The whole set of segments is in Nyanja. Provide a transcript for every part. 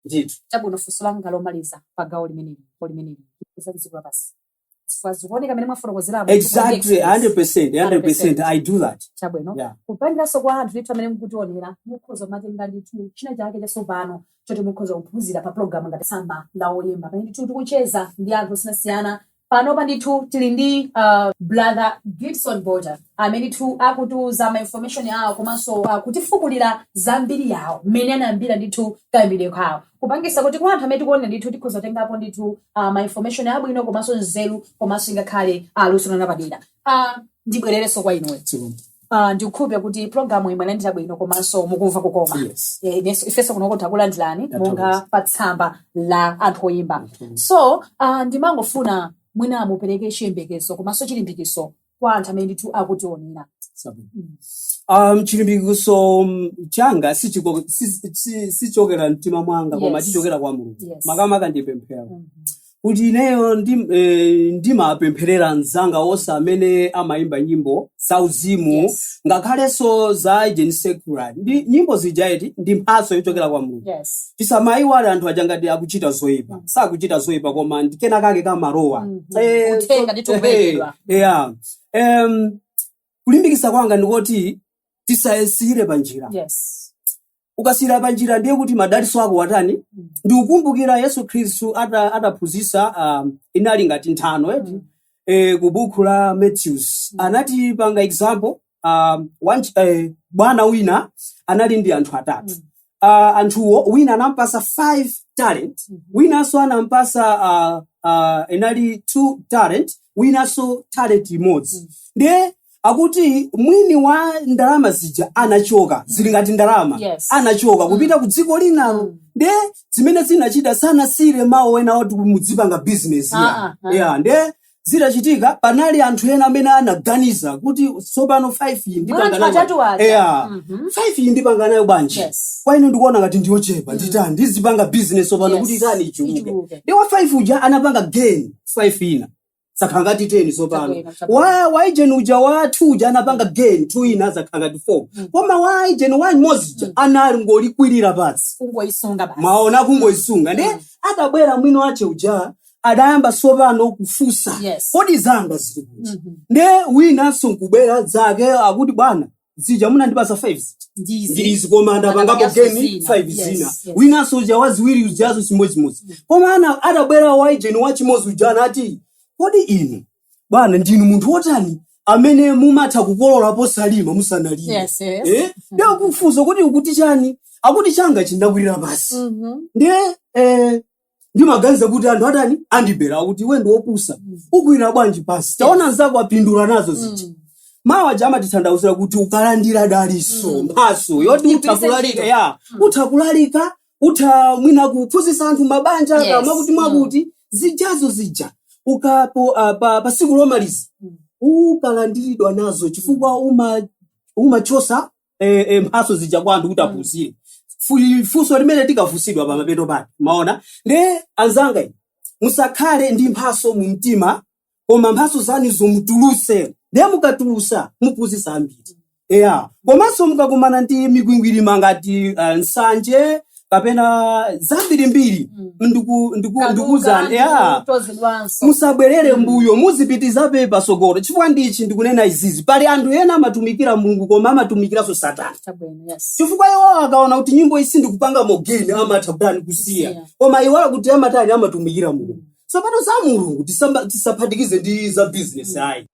ndithu chabwino funso langa lomaliza pa gawo limeneli po limeneli za dziko lapansi chifukwa zikuoneka mmene mwafotokozera apa kuti kodi exactly experience 100% 100% 100% i do that chabwino yeah kupangiranso kwa anthu ndithu amene mukutionera mukhoza matenga ndithu china chake chatsopano choti mukhoza kuphunzira pa pulogalamu ngati tsamba la oyimba pamene ndithu tikucheza ndi anthu osiyanasiyana panopa ndithu tili ndi uh, brother gibson border amene ndithu akutiuza ma information awo komanso uh, kutifukulira za mbiri yawo mmene anayambira ndithu kayambidwe kawo kupangisa kuti kwa anthu amene tikuonera ndithu tikhoza kutengapo ndithu uh, ma information abwino komanso nzeru komanso ingakhale uh, luso lapadera Ah, ndibwererenso kwa inuyo Zikomo. Ah, ndikukhulupirira kuti programu iyi mwalandira bwino komanso mukumva kukoma Yes. Eh, inenso- ifenso kunoko takulandirani Tathokoza. monga pa tsamba la anthu oyimba Tathokoza. so uh, ndimangofuna mwina mupereke chiyembekezo komanso chilimbikitso kwa anthu amene ndithu akutionera Zikomo. Mm. Um, chilimbikitso mm, changa sichiko- si- si- sichokera mtima mwanga koma Yes. chichokera kwa mulungu Yes. makamaka ndipemphera Mhm. kuti ineyo ndi, eh, ndimapempherera anzanga onse amene amayimba nyimbo zauzimu Yes. ngakhalenso za ujeni secular ndi nyimbo zija eti ndi mphatso yochokera kwa mulungu Yes. tisamayiwale anthu aja ngati akuchita zoyipa Mm. sakuchita zoyipa koma ndi kena kake kamalowa Mhm. Eh, so- Uthenga ndithu ukuperekedwa. eh, yeah. Em, kulimbikitsa kwanga ndikoti tisayisiyire pa njira Yes. ukasiyira pa njira ndiye kuti madalitso ako watani ndikukumbukira yesu khristu ata- ataphunzitsa um, inali ngati nthano eti eh, ku buku la matthews anati panga example um, one, ch- eh, bwana wina anali ndi anthu atatu uh, anthuwo wina anampasa 5 talent winanso anampasa uh, uh, inali 2 talent winanso talent imodzi ndiye akuti mwini wa ndalama zija anachoka zili ngati ndalama Yes. anachoka kupita ku dziko linalo Mm. nde zimene zinachita sanasiyire mawu ena oti mudzipanga bizinesi Ah, ah, ah. ya nde zitachitika panali anthu ena amene anaganiza kuti tsopano 5 iyi ndipanga Mwa anthu nayo atatu bwanji? aja. Eya. Mhm. 5 iyi ndipanga nayo bwanji Yes. kwa ine ndikuona ngati ndiyochepa nditani ndizipanga bizinesi tsopano Yes. kuti itani ichuluke Ichuluke. nde wa 5 uja anapanga gain 5 ina zakhala ngati 10 tsopano Chabwino, chabwino. wa wa ujeni uja wa 2 uja anapanga gain 2 ina zakhala ngati 4 Mm. koma wa ujeni wa imodzi uja Mm. anali ngolikwirira pansi kungoyisunga basi mwaona Mm. kungoyisunga nde Mm. atabwera mwini wache uja adayamba tsopano kufunsa yes kodi zanga zili kuti Mhm. nde winanso nkubwera zake akuti bwana zija munandipasa 5 zija Ndizi. ndi izi koma ndapangapo Ndapangapo geni zina. 5 Yes, zina yes. winanso uja waziwiri ujazo chimodzimodzi koma atabwera waijeni wachimodzi uja anati kodi inu bwana ndinu munthu wotani amene mumatha kukolola posalima musanalima Yes, yes. eh? ndiye kufunsa kuti ukuti chani akuti changachi ndakwirira pasi Mhm. ndiye eh, ndimaganiza kuti anthu atani andibera akuti iwe ndiwe wopusa ukwirira bwanji pasi taona nzako apindula nazo zija mawu aja amatitanthauzira kuti ukalandira dalitso mphaso yoti utha Igwiritse kulalika ntchito. ya utha kulalika utha mwina kuphunzitsa anthu mabanja Yes. kapena kuti mwakuti zijazo zija ukapo ah, pa, pa siku lomaliza ukalandiridwa nazo chifukwa uma umachosa eh, eh, mphaso zija kwa anthu kuti aphunzire Fu- funso limene tikafunsidwa pa mapeto pake maona nde anzanga inu, musakhale ndi mphaso mu mtima koma mphaso zanu muzitulusa ndiye mukatulusa muphunzitsa ambiri eya komanso mukakumana ndi mikwingwirima ngati uh, nsanje kapena zambirimbiri Mm. ndiku- ndiku- Kaduka, ndikuuzani ya ndikutozedwanso. musabwerere mbuyo muzipitirizabe patsogolo chifukwa n'chiyani ndikunena izizi pali anthu ena amatumikira mulungu koma amatumikiranso satana Chabwino, yes. chifukwa iwo akaona kuti nyimbo izi sindikupangamo geni amatha kutani kusiya Kusiya. koma iwo akuti amatani amatumikira mulungu tsopano za mulungu tisamba- tisaphatikize ndi za bizinesi ayi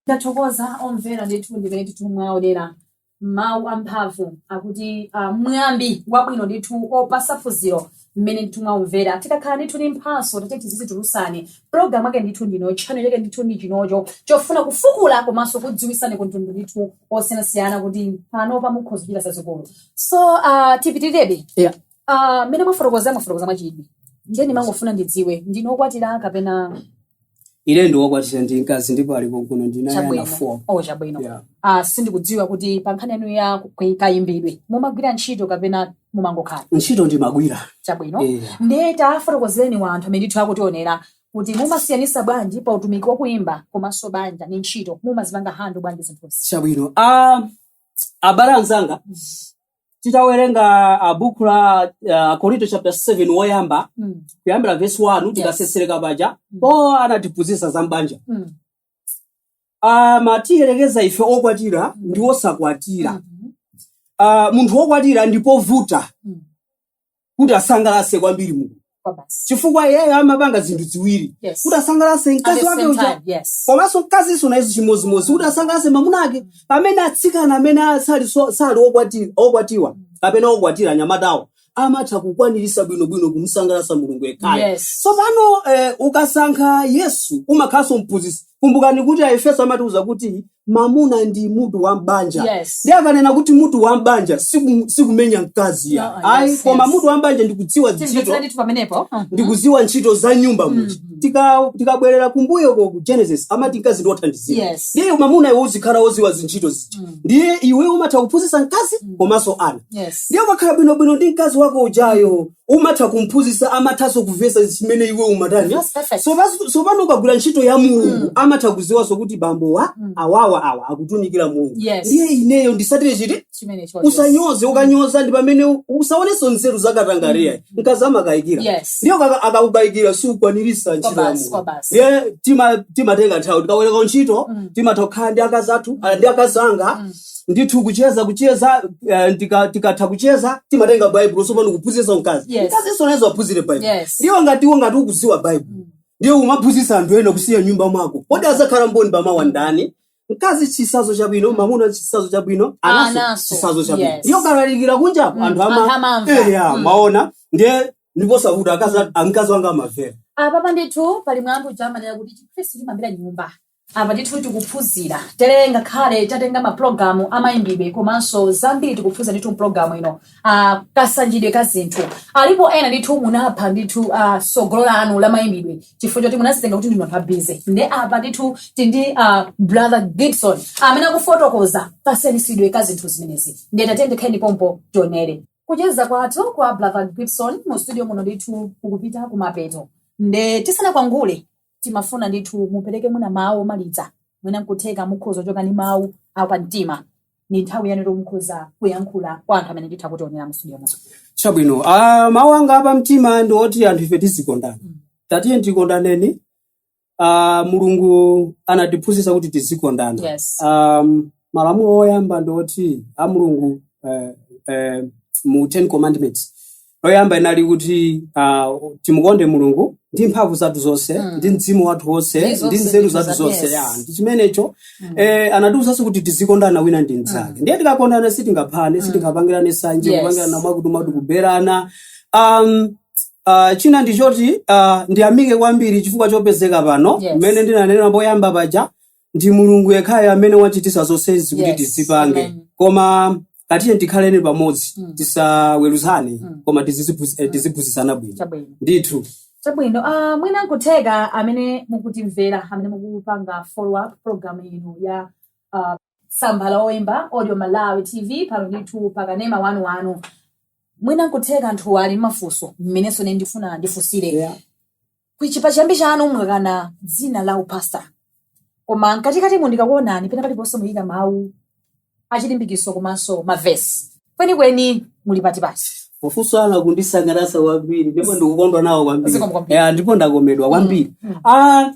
tathokoza omvera ndithu ndimene ndithu mwaonera mawu amphamvu akuti uh, mwambi wabwino ndithu opasa phunziro mmene ndithu mwaumvera tikakhala ndithu ndi mphatso tati tizizitulusani programu ake ndithu ino cholinga chake ndithu ndi chinocho chofuna kufukula komanso kudziwisani kumtundu ndithu osiyanasiyana kuti panopa mukhoza kuchita zazikulu so uh, tipitirebe yeah. Ah, mmene mwafotokoza mwafotokoza mwachidwi ndiye ndimangofuna ndidziwe ndinu okwatira kapena ine ndine wokwatira ndi mkazi ndipo ali kuno ndili naye ana chabwino four oh chabwino Yeah. ah, sindikudziwa kuti pa nkhani yanu ya ku- kayimbidwe mumagwira ntchito kapena mumangokhala ntchito ndimagwira chabwino Eh. ndiye tafotokozerani anthu amene ndithu akutionera kuti mumasiyanisa bwanji pa utumiki wakuimba komanso banja ndi ntchito mumazipanga hando bwanji zinthuzi chabwino Ah, abale anzanga titawerenga ah, buku la ah, akorinto chapter 7 woyamba Mm. kuyambira vesi 1 tikasesereka paja Mm. Paulo anatiphunzitsa za mbanja Mm. amatiyerekeza ife okwatira ndi osakwatira Mhm. Ah, munthu wokwatira ndipovuta Mm. kuti asangalatse kwambiri mulungu Kwa basi. chifukwa iyeyo amapanga zinthu ziwiri Yes. kuti asangalatse At mkazi the wake same uja time, yes. komanso mkazinso nayenso chimodzimodzi kuti asangalatse mamuna wake pamene atsikana amene asali so- sali okwati- okwatiwa kapena okwatira anyamatawo amatha kukwanirisa bwinobwino kumsangalatsa mulungu yekhayo Yes. tsopano eh, ukasankha yesu umakhalanso mphunzitsi kumbukani kuti aefeso amatiuza kuti mamuna ndi mutu wa mbanja Yes. ndiye akanena kuti mutu wa mbanja siku- sikumenya mkazi ya No, ayi yes, koma yes. mutu wa mbanja ndikudziwa ntchito timvetsera ndithu pamenepo Mhm. ndikuziwa ntchito za nyumba muja Mhm. Tika- tikabwerera kumbuyo ko ku genesis amati mkazi ndi wothandizira Yes. ndiye mamuna iwe uzikhala woziwa zintchito zija Mhm. ndiye iwe umatha kuphunzitsa mkazi Mhm. komanso ana Yes. ndiye ukakhala bwinobwino ndi mkazi wako ujayo umatha kumphunzitsa amathanso kumvetsa zimene iwe umatani Yes, perfect. Sopas- sopano ukagwira ntchito ya mulungu Mm. amatha kuziwanso kuti bambo wa Mm. awawa awa akutumikira mulungu Yes. ndiye ineyo ndisatire chiti Chimene chonse. usanyoze ukanyoza ndi pamene u- usaonenso nzeru zakatangalira Mm. mkazi amakayikira Yes. ndiye aka- akakukayikira siukwanirisa ntchito ya Kwabasi, mulungu kwabasi. ndiye tima- timatenga nthawi tikaweruka ntchito Mm. timatha kukhala ndi akazi athu ah, ndi akazi anga Mm. ndithu kucheza kucheza eh, ndika- tikatha kucheza timatenga baibulo sopano kuphunzitsa mkazi Yes. mkazinso naye aphunzire baibulo Yes. ndiye ngati iwe ngati ukuziwa baibulo ndiye umaphunzitsa anthu ena kusiya nyumba mwako kodi azakhala mboni pamawa ndani mkazi chisazo chabwino mamuna chisazo chabwino Anaso. anaso chisazo chabwino Yes. ndiye ukalalikira kunja anthu Anthu ama- amamva. eya Mm. mwaona ndiye ndiposakuti akazi a- mkazi wanga amavera apapa ndithu pali mwambi uja amanena kuti chikhristu chimayambira nyumba apa ndithu tikuphunzira tere ngakhale tatenga mapulogalamu amayimbidwe komanso zambiri tikuphunzira ndithu mpulogalamu ino ah, kasanjidwe ka zinthu alipo ena ndithu munapha ndithu ah, sogolo lanu la mayimbidwe chifukwa choti munazitenga kuti ndinu anthu a busy nde apa ndithu tindi ah, brother gibson amene akufotokoza kasenisidwe ka zinthu zimenezi nde tatendekeni pompo tionere kucheza kwathu kwa brother gibson mu studio muno ndithu kukupita kumapeto nde tisanakwangule timafuna ndithu mupereke mwina mawu omaliza mwina nkutheka mukhoza kuchoka ndi mawu apa mtima ni nthawi yanu yoti mukhoza kuyankhula kwa anthu amene ndithu akutionera mustudio muno chabwino ah, mawu anga apa mtima ndi oti anthu ife tizikondana tatiye tikondaneni ah, mulungu anatiphunzitsa kuti tizikondana yes um, malamulo oyamba ndi oti a mulungu eh, eh, mu ten commandments loyamba inali kuti uh, timukonde mulungu ndi mphamvu zathu zonse Mm. ndi mzimu wathu wonse Ndi ndi zonse nzeru zathu za- zonse yes. ya ndi chimenecho Mm. eh, anatiuzanso kuti tizikondana wina ndi mnzake ndiye tikakondana sitingaphane Mm. sitingapangirane sanje Yes. kupangirana mwakutimwakuti kuberana um, Uh, china ndichoti uh, ndiyamike kwambiri chifukwa chopezeka pano Yes. mmene ndinanena poyamba paja ndi mulungu yekhayo amene wachitisa zonsezi kuti Yes. tizipange Amen. koma tatiye tikhaleni pamodzi Mm. tisaweruzane Mm. koma tiziziphunz- eh, tiziphunzitsana bwino Chabwino. ndithu chabwino uh, mwina nkutheka amene mukutimvera amene mukupanga follow up program ino ya uh, tsamba la oyimba audio malawi tv pano ndithu pakanema wanu wanu mwina nkutheka anthu ali mmafunso mmenenso ne ndifuna ndifunsire Yeah. Kuchi pachiyambi chanu mwakana dzina la upastor. Koma mkatikatimu ndikakuonani pena paliponse muyika mawu achilimbikitso komanso mavesi. Kwenikweni muli pati pati. mafunso anu akundisangalatsa kwambiri ndipo ndikukondwa nawo kwambiri Zikomo kwambiri. Eh, ndipo ndakomedwa kwambiri Mm, mm. Ah,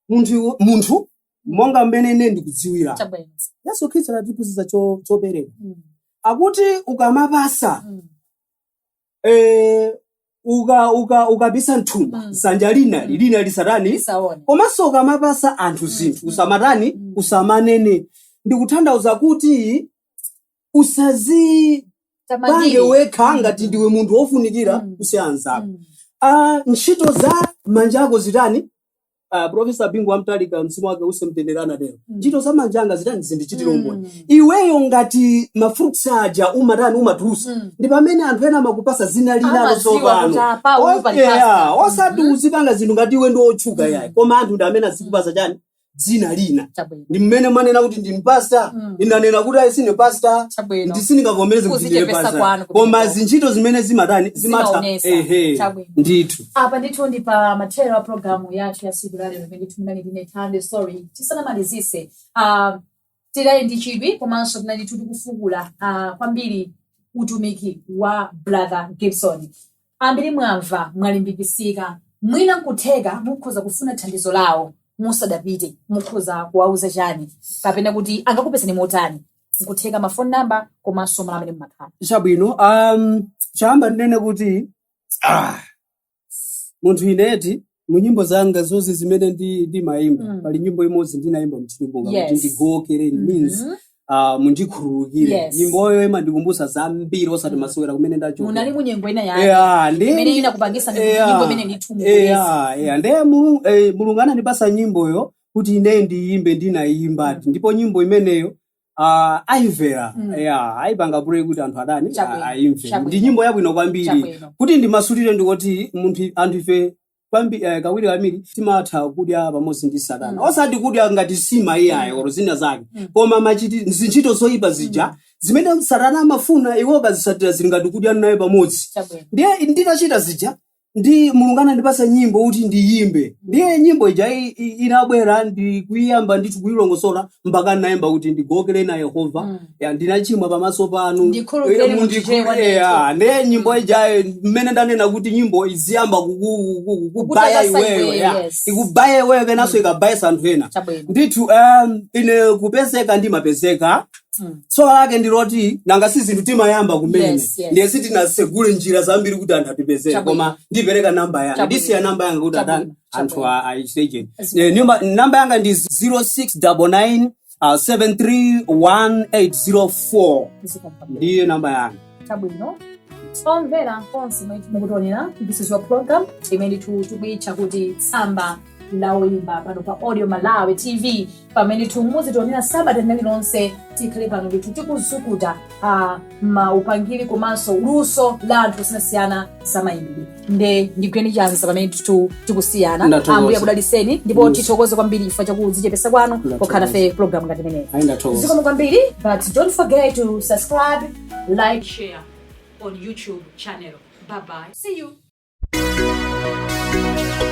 munthu munthu monga mmene ine ndikudziwira Chabwino. yesu khristu anatiphunzitsa cho- chopereka Mm, akuti ukamapasa mm, eh, uka uka ukapisa mthumba Mm. dzanja lina Mm. lina lisatani Lisaone. komanso ukamapasa anthu Mm, zinthu mm, usamatani mm. usamanene ndikutanthauza kuti usazipange Tamandiri. wekha Mm, ngati mm, ndiwe munthu wofunikira mm, kusiya anzako mm. Ah, ntchito za manja ako zitani ah, profesa bingu wa mutharika mzimu wake uuse mumtendere anatero Mm. ntchito za manja anga zitani zindichitira umboni Mm. iweyo ngati mafruits aja umatani umatulusa Mm. ndi pamene anthu ena amakupasa dzina linalo Amadziwa kuti tsopano apa uyu pali Okay, pasta. ah, osati Mhm. uzipanga zinthu ngati iwe ndi otchuka Mm. yayi koma anthu ndi amene azikupasa chani dzina lina Chabwino. ndi mmene mwanena kuti ndine pasta Mm. ndinanena kuti ayi sine pasta Chabwino. ndi sindingavomereze kuti ndine Kuzichepesa pasta kwanu koma kumeneko. zintchito zimene zimatani zimatha Zimaonesa. ehe Chabwino. ndithu apa ndithu ndi pa mathero a programu yathu ya siku la lero imene munali ndi ine thando sorry tisanamalizise uh, tidali ndi chidwi komanso tinali ndithu tikufukula uh, kwambiri utumiki wa brother gibson ambiri mwamva mwalimbikisika mwina nkutheka mukhoza kufuna thandizo lawo musadapite mukhoza kuwauza chani kapena kuti angakupezani motani nkutheka mafoni namba komanso malo amene mumakhala chabwino um, choyamba ndinene kuti Ah. munthu ineti mu nyimbo zanga zonse zimene ndi- ndimayimba Mm. pali nyimbo imodzi ndinayimba mchitonga Yes. kuti ndigokere it means Mhm. ah, mundikhululukire Yes. nyimboyo imandikumbutsa zambiri osati Mm. masewera kumene munali ndachoka munyengo ina yake Yeah, ndi- imene inakupangisa ndi kuti Yeah. nyimbo imene ndithumuleza Eya, eya. Ndiye Mulungu, eh, Mulungu anandipasa nyimboyo kuti ine ndiyimbe ndinayimba Mm. ndipo nyimbo imeneyo Ah, ayimvera Mm. ya ayipanga play kuti anthu atani a- Chabwino, ayimve ndi chabwino, nyimbo yabwino kwambiri chabwino. kuti ndimasulire ndikuti munthu anthu ife kwambi eh, kawiri kawiri timatha kudya pamodzi ndi satana Mm. osati kudya ngati nsima iyayi Mm. olo zina zake Mm. koma machiti zintchito zoyipa zija Mm. zimene satana amafuna iwe ukazisatira zili ngati kudya naye pamodzi Chabwino. ndiye nditachita zija ndi mulungu anandipasa nyimbo kuti ndiyimbe ndiye nyimbo ija i- i- inabwera ndikuyiyamba ndithu kuyilongosola mpaka ndinayimba kuti ndigokere na yehova Mm. ya ndinachimwa pamaso panu Ndikhululukireni Eh, munthu ndikhulu- chewa eh, ah, ndiye nyimbo ijayo mmene ndanena kuti nyimbo iziyamba kuku- kuku- kukubaya Kukutapasa iweyo iweyo, ya yes. ikubaye iweyo kenanso ikabayenso anthu ena Chabwino. ndithu um, ine kupezeka ndimapezeka Mm. tsoka lake ndi loti nanga si zinthu timayamba kumene Yes, yes. ndiye sitinasegule njira zambiri kuti anthu atipezere Chabwino. koma ndipereka namba yanga Chabwino. ndisiya namba yanga kuti Chabwino, adani anthu chabwino. a- ayichiteje Yes, Eh, nyumba- namba yanga ndi 0699 uh, 731804 Zikomo kwambiri. ndiye namba yanga chabwino omvera konse komwe mukutionera this is your program imene tu- tikuitcha kuti tsamba la oyimba pano pa audio malawi tv pamene muzitionera sabata lina lililonse tikhale pano ndithu tikuzukuta ah, maupangiri komanso luso la anthu osiyanasiyana za mayimbidwe nde ndigwireni chanza pamene ndithu tikusiyana Ndathokoza. ambuye akudaliseni ndipo Yes. tithokoze kwambiri chifukwa chakudzichepesa kwanu Ndathokoza. pokhala nafe pa program ngati imeneyi ayi ndathokoza zikomo kwambiri but don't forget to subscribe like share our youtube channel bye bye see you